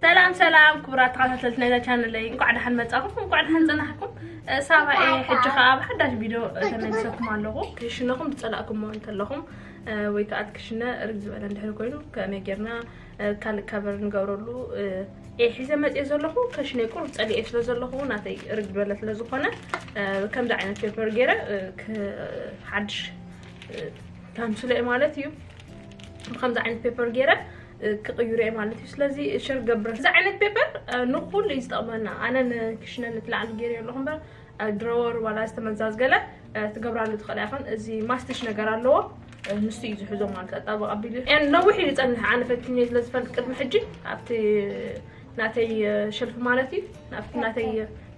ሰላም ሰላም ክቡራት ተኸታተልቲ ናይዛ ቻነለይ እንኳዕ ደሓን መፃኹም እንኳዕ ደሓን ፅናሕኩም ሳባ እየ ሕጂ ከዓ ኣብ ሓዳሽ ቪድዮ ተመልሰኩም ኣለኹ ክሽነኹም ዝፀላእኩሞ እንተለኹም ወይ ከዓ ክሽነ ርግ ዝበለ እንድሕር ኮይኑ ከመይ ጌርና ካልእ ካቨር ንገብረሉ እየ ሒዘ መፅየ ዘለኹ ከሽነይ ቁሩብ ፀሊኤ ስለ ዘለኹ ናተይ እርግ ዝበለ ስለ ዝኾነ ከምዚ ዓይነት ፔፐር ገይረ ሓድሽ ታምስሎ እየ ማለት እዩ ብከምዚ ዓይነት ፔፐር ገይረ ክቕይሩ እየ ማለት እዩ ስለዚ ሸር ገብረ እዚ ዓይነት ፔፐር ንኩሉ እዩ ዝጠቕመና ኣነ ንክሽነ ንትላዕሊ ገይረ ኣለኹ እምበር ድሮወር ዋላ ዝተመዛዝገለ ትገብራሉ ትኽእላ ይኹን እዚ ማስትሽ ነገር ኣለዎ ንሱ እዩ ዝሕዞ ማለት ኣጣበቕ ኣቢሉ ነዊሕ እዩ ዝፀንሕ ኣነ ፈትኜ ስለ ዝፈልጥ ቅድሚ ሕጂ ኣብቲ ናተይ ሸልፊ ማለት እዩ ናብቲ ናተይ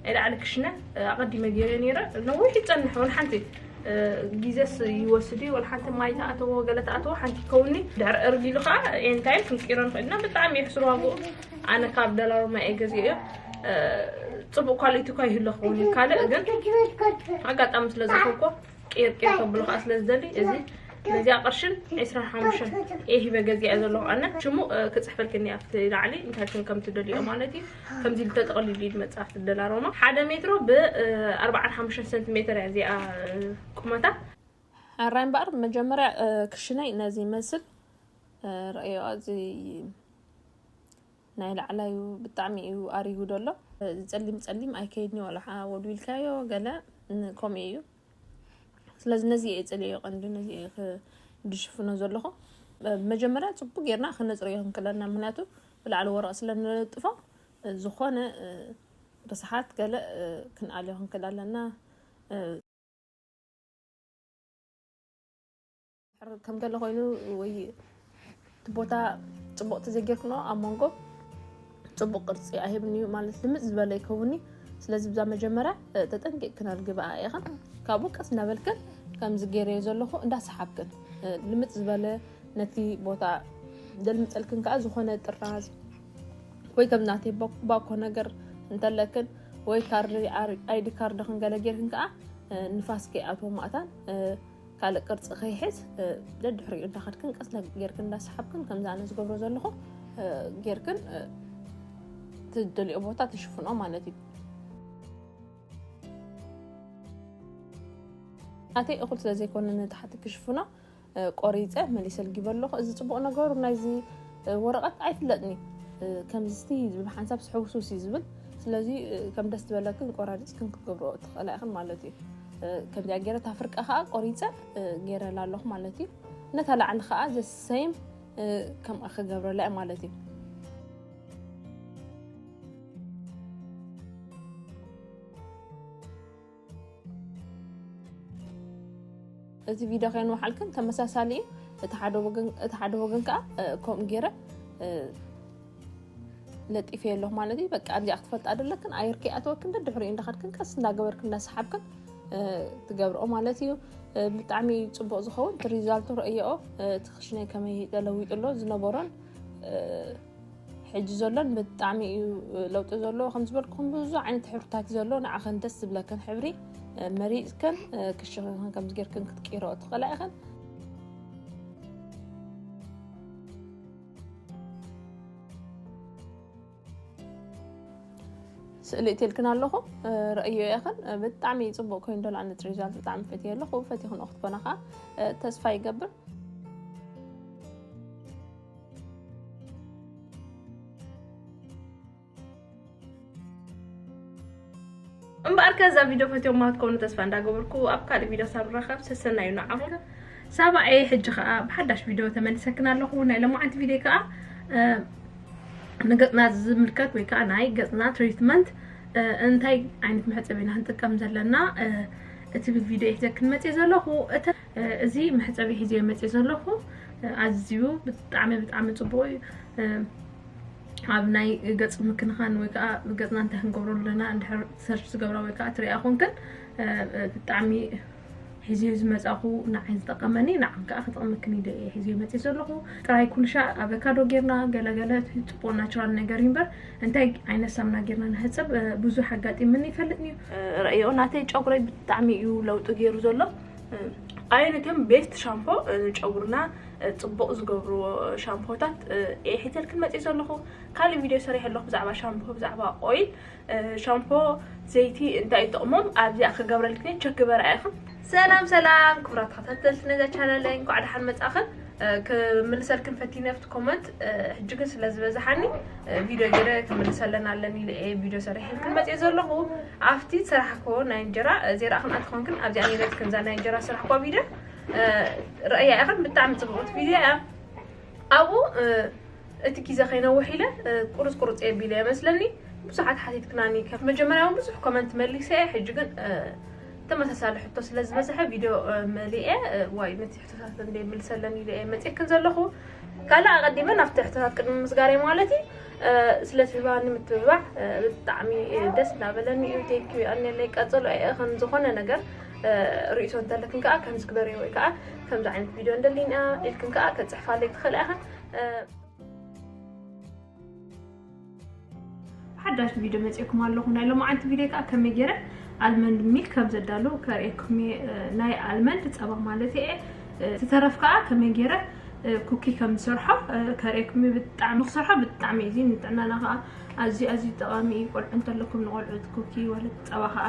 ናይ ላዕሊ ክሽነ ኣቐዲመ ገይረ ነይረ ነዊሕ ይፀንሕ ወን ሓንቲ ጊዜስ ይወስድ እዩ ወላ ሓንቲ ማይ ተኣተዎ ገለ ተኣተዎ ሓንቲ ይከውኒ ድሕሪ እርጊሉ ከዓ ኤንታይም ክንቅይሮ ንኽእል ኢና ብጣዕሚ የሕስር ዋግኡ ኣነ ካብ ደራርማ እየ ገዚኦዮ ፅቡቅ ኳሊቲ እኳ ይህሉ ክኸውን እዩ ካልእ ግን ኣጋጣሚ ስለ ዝኮንኮ ቂርቂር ከብሎ ከዓ ስለ ዝደሊ እዚ ነዚኣ ቅርሽን 25 እየ ሂበ ገዚኣ ዘለኹ ኣነ ሽሙ ክፅሕፈልክኒ ኣብቲ ላዕሊ እንታይ ሽም ከም ትደልዮ ማለት እዩ ከምዚ ኢሉ ተጠቕሊሉ እዩ ዝመፅእ ኣብቲ ደላሮማ ሓደ ሜትሮ ብ45 ሰንቲሜትር እያ እዚኣ ቁመታ ኣራይ እምበኣር መጀመርያ ክሽነይ ነዚ ይመስል ረእዮ ኣዚ ናይ ላዕላ እዩ ብጣዕሚ እዩ ኣሪጉ ደሎ ፀሊም ፀሊም ኣይከይድኒ ዋላሓ ወልዊልካዮ ገለ ከምኡ እዩ ስለዚ ነዚ እየ ፅልዮ ቀንዲ ነዚ እየ ድሽፍኖ ዘለኹ መጀመርያ ፅቡቅ ጌርና ክነፅርዮ ክንክለና ምክንያቱ ብላዕሊ ወረቅ ስለንለጥፎ ዝኾነ ርስሓት ገለ ክንኣልዮ ክንክል ኣለና ከም ገለ ኮይኑ ወይ እቲ ቦታ ፅቡቅ ተዘይጌርክኖ ኣብ መንጎ ፅቡቅ ቅርፂ ኣይህብን እዩ ማለት ልምፅ ዝበለ ይከውኒ ስለዚ ብዛ መጀመርያ ተጠንቂቅ ክነርግብኣ ኢኸን ካብኡ ቀስ እናበልክን ከምዚ ገይረዮ ዘለኹ እንዳሰሓብክን ልምፅ ዝበለ ነቲ ቦታ ዘልምፀልክን ከዓ ዝኾነ ጥራዝ ወይ ከም ናተይ ባኮ ነገር እንተለክን ወይ ካርዲ ኣይዲ ካርድክን ገለ ጌርክን ከዓ ንፋስ ከይኣትዎ ማእታን ካልእ ቅርፂ ከይሕዝ ደድሕሪኡ እንዳኸድክን ቀስ ጌርክን እንዳሰሓብክን ከምዚ ኣነ ዝገብሮ ዘለኹ ጌርክን ትደልኦ ቦታ ትሽፍኖ ማለት እዩ ናተይ እኹል ስለ ዘይኮነ ንታሕቲ ክሽፍኖ ቆሪፀ መሊሰ ልጊበ ኣለኹ እዚ ፅቡቅ ነገሩ ናይዚ ወረቐት ኣይፍለጥኒ ከምዝቲ ዝብል ሓንሳብ ስሕውሱስ እዩ ዝብል ስለዚ ከም ደስ ዝበለክን ቆራሪፅክን ክትገብሮ ትኽእላ ኢኽን ማለት እዩ ከምዚኣ ገይረ እታ ፍርቂ ከዓ ቆሪፀ ገይረላ ኣለኹ ማለት እዩ ነታ ላዕሊ ከዓ ዘሰይም ከምኣ ክገብረላ እዩ ማለት እዩ እዚ ቪድዮ ከይንወሓልክን ተመሳሳሊ እዩ እቲ ሓደ ወገን ከዓ ከምኡ ገይረ ለጢፈ ኣለኹ ማለት እዩ በቃ ኣብዚኣ ክትፈልጥ ኣደለክን ኣየር ከይኣተወክን ደድሕሪኡ እንዳኸድክን ቀስ እንዳገበርክን እንዳሰሓብክን ትገብርኦ ማለት እዩ ብጣዕሚ ፅቡቅ ዝኸውን እቲ ሪዛልቱ ረእየኦ እቲ ክሽነይ ከመይ ተለዊጡ ኣሎ ዝነበሮን ሕጂ ዘሎን ብጣዕሚ እዩ ለውጢ ዘለዎ ከም ዝበልኩም ብዙ ዓይነት ሕብርታት እዩ ዘሎ ንዓኸን ደስ ዝብለክን ሕብሪ መሪፅክን ክሽኽን ከምዚ ጌርክን ክትቅይረኦ ትኽእላ ኢኸን ስእሊ እትልክን ኣለኹ ረእዮ የኸን ብጣዕሚ ፅቡቅ ኮይኑ ዶል ኣነት ሪዛልት ብጣዕሚ ፈትየ ኣለኹ ፈቲኹን ክትኮና ከዓ ተስፋ ይገብር እምበኣር ከዛ ቪድዮ ፈትዮማ ክትኮኑ ተስፋ እንዳገበርኩ ኣብ ካልእ ቪድዮ ሳብ ንራኸብ ሰሰናዩ ንዓኹም ሳባኤ ሕጂ ከዓ ብሓዳሽ ቪድዮ ተመልሰክና ኣለኹ ናይ ለማዓንቲ ቪድዮ ከዓ ንገፅና ዝምልከት ወይ ከዓ ናይ ገፅና ትሪትመንት እንታይ ዓይነት መሕፀቢ ኢና ክንጥቀም ዘለና እቲ ቪድዮ ሒዘ ክንመፅ ዘለኹ እዚ መሕፀቢ ሒዘ መፅ ዘለኹ ኣዝዩ ብጣዕሚ ብጣዕሚ ፅቡቅ እዩ ኣብ ናይ ገፅ ምክንኻን ወይ ከዓ ገፅና እንታይ ክንገብሮ ኣለና እንድሕር ሰርች ዝገብራ ወይ ከዓ ትሪኣ ኮንክን ብጣዕሚ ሒዝዮ ዝመፃኹ ንዓይ ዝጠቐመኒ ንዓም ከዓ ክጠቕመክን ኢለ እየ ሒዝዮ መፂ ዘለኹ ጥራይ ኩልሻ ኣቨካዶ ጌርና ገለገለ ፅቡቅ ናቹራል ነገር እዩ እምበር እንታይ ዓይነት ሳምና ጌርና ንሕፅብ ብዙሕ ኣጋጢምኒ ይፈልጥኒ እዩ ረእዮ ናተይ ጨጉረይ ብጣዕሚ እዩ ለውጢ ገይሩ ዘሎ ኣይነትም ቤስት ሻምፖ ንጨጉርና ጽቡቕ ዝገብርዎ ሻምፖታት እየ ሒዘልክን መጺእ ዘለኹ ካልእ ቪድዮ ሰሪሐ ኣለኹ ብዛዕባ ሻምፖ ብዛዕባ ኦይል ሻምፖ ዘይቲ እንታይ እዩ ጥቕሞም ኣብዚኣ ክገብረልክን ቸክ ግበራ ኢኽን ሰላም ሰላም ክብራት ተኸታተልቲ ነዛ ቻናለይ እንኳዕ ደሓን መጻእኽን ክምልሰልክን ፈቲነ ኣብቲ ኮመንት ሕጂ ግን ስለ ዝበዝሓኒ ቪድዮ ገይረ ክምልሰለን ኣለኒ ኢለ እየ ቪድዮ ሰሪሐልክን መፅኦ ዘለኹ ኣብቲ ስራሕኮ ናይ እንጀራ ዘይረእኽን ኣትኾንክን ኣብዚኣ ነይረትክን እዛ ናይ እንጀራ ስራሕኳ ቪድዮ ረኣያ ኢኸን ብጣዕሚ ፅብቕቲ ቪድዮ እያ ኣብኡ እቲ ግዜ ከይነውሕ ኢለ ቁርፅ ቁርፅ የቢለ የመስለኒ ብዙሓት ሓቲትክናኒ ከፍ መጀመርያ እውን ብዙሕ ኮመንት መሊሰ እየ ሕጂ ግን ተመሳሳሊ ሕቶ ስለ ዝበዝሐ ቪድዮ መሊአ ዋይ ነቲ ሕቶታት እንደ ምልሰለን ኢለ እየ መፅክን ዘለኹ ካልእ ኣቐዲመ ናብቲ ሕቶታት ቅድሚ ምስጋር እየ ማለት እዩ ስለ ትህባኒ ምትብባዕ ብጣዕሚ ደስ እናበለኒ እዩ ቴንኪዩ ኣነለይ ቀፅሎ እየ ዝኾነ ነገር ርእይቶ እንተለክን ከዓ ከምዚ ግበሪ ወይ ከዓ ከምዚ ዓይነት ቪድዮ እንደሊን እያ ኢልክን ከዓ ከፅሕፋለይ ትኽእላ ኢኻ ሓዳሽ ቪድዮ መፅእኩም ኣለኹ ናይ ሎማዓንቲ ቪድዮ ከዓ ከመይ ገይረ ኣልመንድ ሚል ከም ዘዳሉ ከርእየኩም ናይ ኣልመንድ ፀባ ማለት እየ ዝተረፍ ከዓ ከመይ ገይረ ኩኪ ከም ዝሰርሖ ከርእየኩም ብጣዕሚ ክሰርሖ ብጣዕሚ እዩ እዚ ንጥዕናና ከዓ ኣዝዩ ኣዝዩ ጠቃሚ እዩ ቆልዑ እንተለኩም ንቆልዑት ኩኪ ወለት ፀባ ከዓ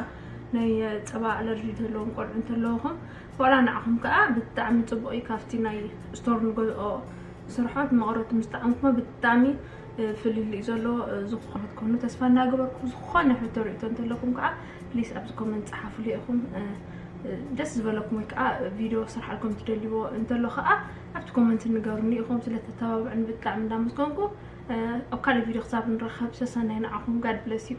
ናይ ፀባ ኣለርጂ ዘለዎም ቆልዑ እንተለውኹም ዋላ ንዓኹም ከዓ ብጣዕሚ ፅቡቅ እዩ ካብቲ ናይ ስቶር ንገዝኦ ስርሖ መቅረቱ ምስ ጠዓምኩሞ ብጣዕሚ ፍልልይ እዩ ዘለዎ ዝኮነ ክትኮኑ ተስፋ እናገበርኩ ዝኮነ ሕቶ ርእቶ እንተለኩም ከዓ ፕሊስ ኣብዚ ኮመንት ፀሓፍሉ ኢኹም ደስ ዝበለኩም ወይ ከዓ ቪድዮ ስርሓልኩም ትደልይዎ እንተሎ ከዓ ኣብቲ ኮመንት ንገሩኒ ኢኹም ስለተተባብዑን ብጣዕሚ እንዳመስገንኩ ኣብ ካልእ ቪድዮ ክሳብ ንራኸብ ሰሰናይ ንዓኹም ጋድ ብለስ እዩ